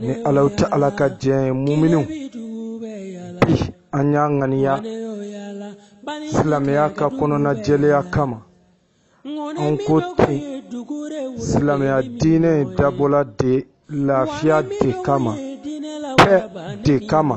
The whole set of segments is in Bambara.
ni ala tɛ ala ka diɲɛ ye muminiw bi an y'a ŋaniya silamɛya ka kɔnɔna jɛlenya kama an ko ten silamɛya diinɛ in dabɔla de lafiya de kama paix de kama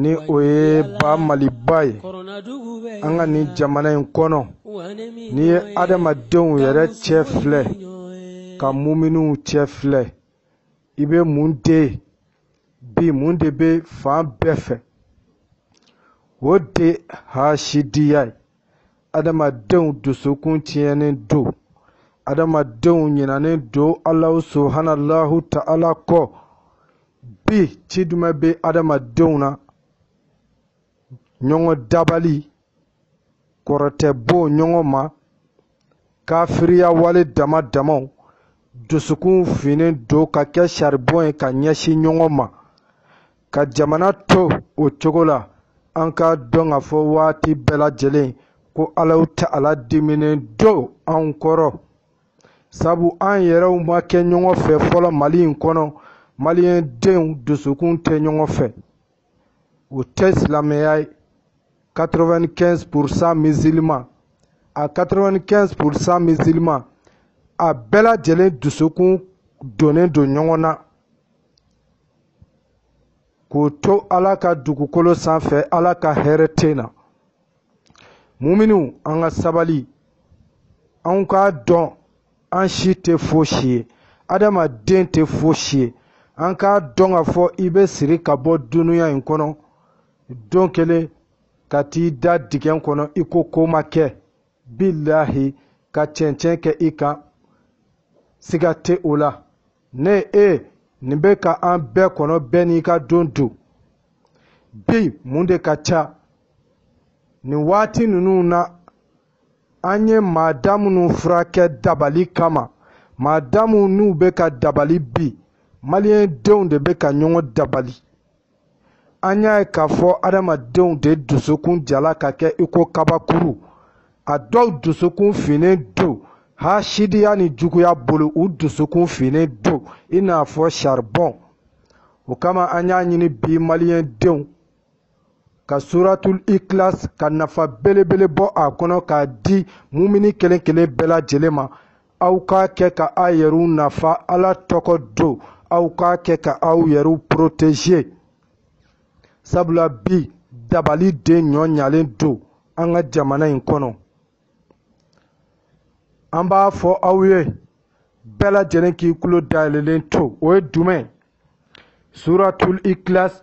ni o ye ba maliba ye an ka nin jamana in kɔnɔ n'i ye adamadenw yɛrɛ cɛ filɛ ka muminiw cɛ filɛ i bɛ mun de ye bi mun de bɛ fan bɛɛ fɛ o de hasidiya ye adamadenw dusukun tiɲɛnen don adamadenw ɲinanen don alahu subhanalahu ta'ala kɔ bi ci jumɛn bɛ adamadenw na ɲɔgɔn dabali kɔrɔtɛ bon ɲɔgɔn ma kafiriya wale dama damaw dusukun finnen don ka kɛ saribɔn ye ka ɲɛsin ɲɔgɔn ma ka jamana to o cogo la an k'a dɔn ka fɔ waati bɛɛ lajɛlen ko alahu ta'ala diminen don an kɔrɔ sabu an yɛrɛw ma kɛ ɲɔgɔn fɛ fɔlɔ mali in kɔnɔ maliyɛn denw dusukun tɛ ɲɔgɔn fɛ o tɛ silamɛya ye 95 pourcent musulman a 95 pourcent musulman a bɛɛ lajɛlen dusukun donnen don ɲɔgɔn na k'o to ala ka dugukolo sanfɛ ala ka hɛrɛ tɛ na muminiw an ka sabali an k'a dɔn an si tɛ fosi ye adamaden tɛ fosi ye an k'a dɔn ka fɔ i bɛ siri ka bɔ dunuya in kɔnɔ don kelen ka t'i da digɛn kɔnɔ i ko ko ma kɛ bilahi ka cɛncɛn kɛ i kan siga tɛ o la ne e nin bɛ ka an bɛɛ kɔnɔ bɛɛ n'i ka don don bi mun de ka ca nin waati ninnu na an ye maa da minnu furakɛ dabali kama maa da minnu bɛ ka dabali bi maliyɛn denw de bɛ ka ɲɔgɔn dabali an y'a ye k'a fɔ adamadenw de dusukun jala ka kɛ i ko kabakuru a dɔw dusukun finnen don hasidiya ni juguya bolo u dusukun finnen don i n'a fɔ saribɔn o kama an y'a ɲini bi maliyɛn denw ka suratul ikilas ka nafa belebele bɔ a kɔnɔ k'a di mumini kelen kelen bɛɛ lajɛlen ma aw k'a kɛ ka aw yɛrɛw nafa ala tɔgɔ don aw k'a kɛ ka aw yɛrɛw protéger sabula bi dabali de ɲɔ ɲalen don an ka jamana in kɔnɔ an b'a fɔ aw ye bɛɛ lajɛlen k'i tulo dayɛlɛlen to o ye jumɛn suratul ikilas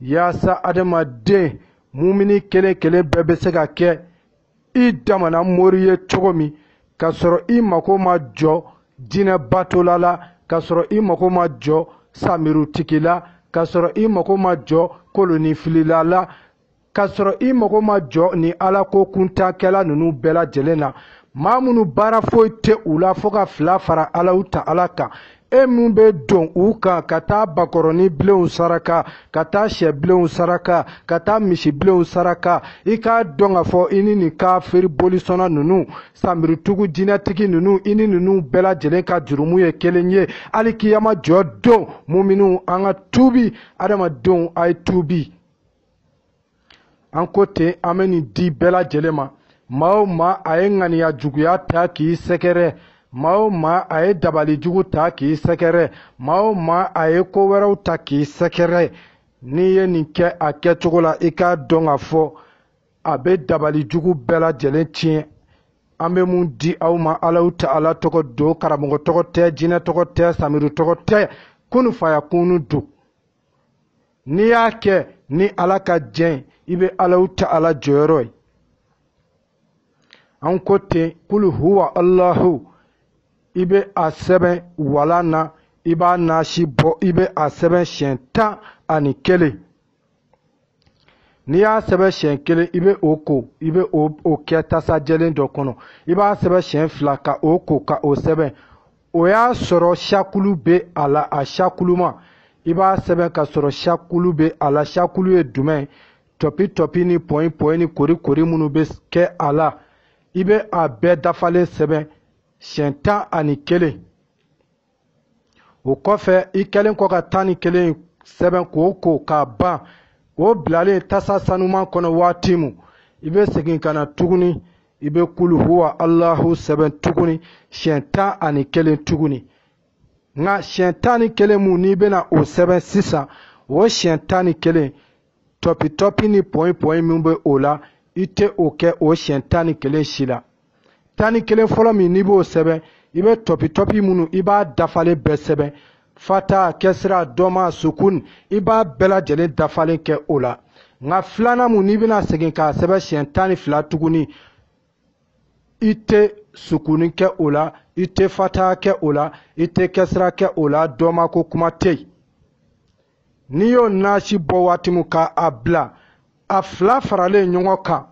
yaasa adamaden mumini kelen kelen bɛɛ bɛ se ka kɛ i damana mori ye cogo min k'a sɔrɔ i mago ma jɔ jinɛ batola la k'a sɔrɔ i mago ma jɔ samirutigi la k'a sɔrɔ i mago ma jɔ koloninfilila la k'a sɔrɔ i mago ma jɔ ni alako kuntan kɛla ninnu bɛɛ lajɛlen na maa minnu baara foyi tɛ u la fo ka fila fara alahu taala kan e min bɛ don u kan ka taa bakɔrɔni bilenw saraka ka taa sɛ bilenw saraka ka taa misi bilenw saraka i k'a dɔn k'a fɔ i ni nin kafiri bolisɔnna ninnu samirutigi jinɛtigi ninnu i ni ninnu bɛɛ lajɛlen ka jurumu ye kelen ye hali kiyama jɔ don muminiw an ka tuubi adamadenw a ye tuubi an ko ten an bɛ nin di bɛɛ lajɛlen ma maa o maa a ye ŋaniya juguya ta k'i sɛgɛrɛ maa o maa a ye dabali jugu ta k'i sɛgɛrɛ maa o maa a ye ko wɛrɛw ta k'i sɛgɛrɛ n'i ye nin kɛ a kɛcogo la i k'a dɔn k'a fɔ a bɛ dabali jugu bɛɛ lajɛlen tiɲɛ an bɛ mun di aw ma alahu taala tɔgɔ don karamɔgɔ tɔgɔ tɛ jinɛ tɔgɔ tɛ samiru tɔgɔ tɛ kunu faya kunu don n'i y'a kɛ ni ala ka jɛn i bɛ alahu taala jɔyɔrɔ ye an ko ten kulu huwa alahu i bɛ a sɛbɛn walan na i b'a nasi bɔ i bɛ a sɛbɛn siɲɛ tan ani kelen n'i y'a sɛbɛn siɲɛ kelen i bɛ o ko i bɛ o kɛ tasa jɛlen dɔ kɔnɔ i b'a sɛbɛn siɲɛ fila ka o ko ka o sɛbɛn o y'a sɔrɔ sakulu bɛ a la a sakuluma i b'a sɛbɛn ka sɔrɔ sakulu bɛ a la sakulu ye jumɛn tɔpi tɔpi ni pɔyi pɔyi ni kori kori minnu bɛ kɛ a la i bɛ a bɛɛ dafalen sɛbɛn siɲɛ tan ani kelen o kɔfɛ i kɛlen kɔ ka tan ni kelen sɛbɛn k'o ko k'a ban o bilalen tasa sanuman kɔnɔ waati mu i bɛ segin ka na tuguni i bɛ kulu huwa alahu sɛbɛn tuguni siɲɛ tan ani kelen tuguni nka siɲɛ tan ni kelen mu n'i bɛna o sɛbɛn sisan o siɲɛ tan ni kelen tɔpitɔpi ni pɔyinpɔyin min bɛ o la i tɛ o kɛ o siɲɛ tan ni kelen si la tan ni kelen fɔlɔ min n'i b'o sɛbɛn i bɛ tɔpitɔpi minnu i b'a dafalen bɛɛ sɛbɛn fata kɛsira dɔma sukun i b'a bɛɛ lajɛlen dafalen kɛ o la nka filanan mun n'i bɛna segin k'a sɛbɛn siɲɛ tan ni fila tuguni i tɛ sukuni kɛ o la i tɛ fata kɛ o la i tɛ kɛsira kɛ o la dɔma ko kuma tɛ yen n'i y'o nasi bɔ waati min ka a bila a fila faralen ɲɔgɔn kan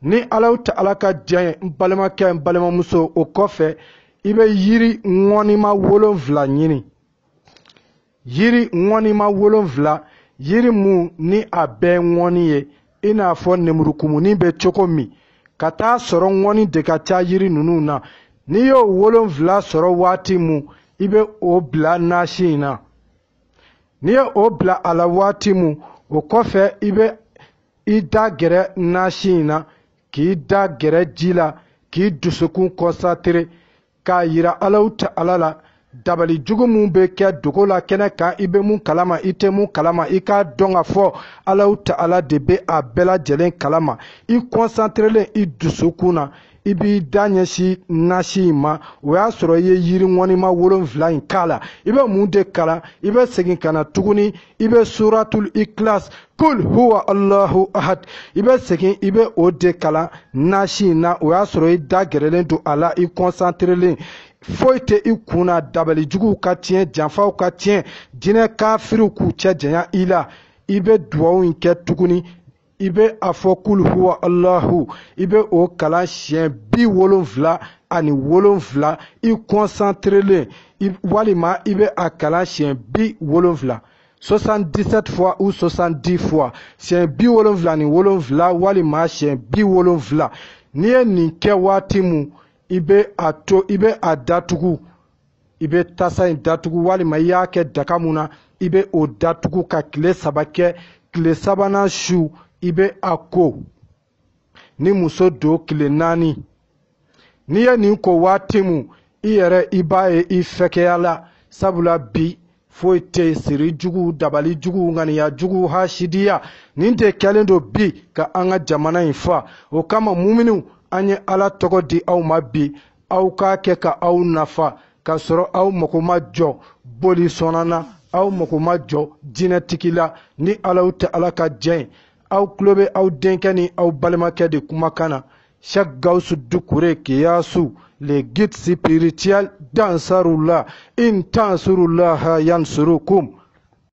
ni alahu ta'ala ka diɲɛ ye n balimakɛ n balimamuso o kɔfɛ i bɛ yiri ŋɔnima wolonfila ɲini yiri ŋɔnima wolonfila yiri mun ni a bɛɛ ŋɔni ye i n'a fɔ nemurukumuni bɛ cogo min ka taa sɔrɔ ŋɔni de ka ca yiri ninnu na n'i y'o wolonfila sɔrɔ waati mun i bɛ o bila nasi in na n'i ye o bila a la waati mun o kɔfɛ i bɛ i da gɛrɛ nasi in na k'i da gɛrɛ ji la k'i dusukun kɔnsantere k'a yira alahu ta'ala la dabali jugu min bɛ kɛ dogo la kɛnɛ kan i bɛ mun kalama i tɛ mun kalama i k'a dɔn k'a fɔ alahu ta'ala de bɛ a bɛɛ lajɛlen kalama i kɔnsanterelen i dusukun na i b'i da ɲɛsin nasi in ma o y'a sɔrɔ i ye yiri ŋɔnima wolonfila in k'a la i bɛ mun de kalan i bɛ segin ka na tuguni i bɛ suratul ikilas kul huwa allahu ahad i bɛ segin i bɛ o de kalan nasi in na o y'a sɔrɔ i da gɛrɛlen don a la i kɔnsanterelen foyi tɛ i kun na dabalijuguw ka tiɲɛ janfaw ka tiɲɛ jinɛ kafiriw k'u cɛ janya i la i bɛ duwawu in kɛ tuguni i bɛ a fɔ kul huwa alahu i bɛ o kalan siɲɛ bi wolonfila ani wolonfila i kɔnsanterelen walima i bɛ a kalan siɲɛ bi wolonfila 77 fois ou 70 fois siɲɛ bi wolonfila ni wolonfila walima siɲɛ bi wolonfila n'i ye nin kɛ waati mun i bɛ a datugu i bɛ tasa in datugu walima i y'a kɛ daga mun na i bɛ o datugu ka tile saba kɛ tile sabanan su i bɛ a ko ni muso don tile naani n'i ye nin ko waati mun i yɛrɛ i b'a ye i fɛkɛya la sabula bi foyi tɛ siri jugu dabali jugu ŋaniya jugu hasidiya nin de kɛlen don bi ka an ka jamana in fa o kama muminiw an ye ala tɔgɔ di aw ma bi aw k'a kɛ ka aw nafa k'a sɔrɔ aw mago ma jɔ boli sɔnna na aw mago ma jɔ jinɛtigi la ni alahu ta'ala ka jɛn ye aw tulo bɛ aw denkɛ ni aw balimakɛ de kumakan na cheikh gawusu dukure kiyasu le guide spirituel d'ansarullah in tansurulaha yansurukum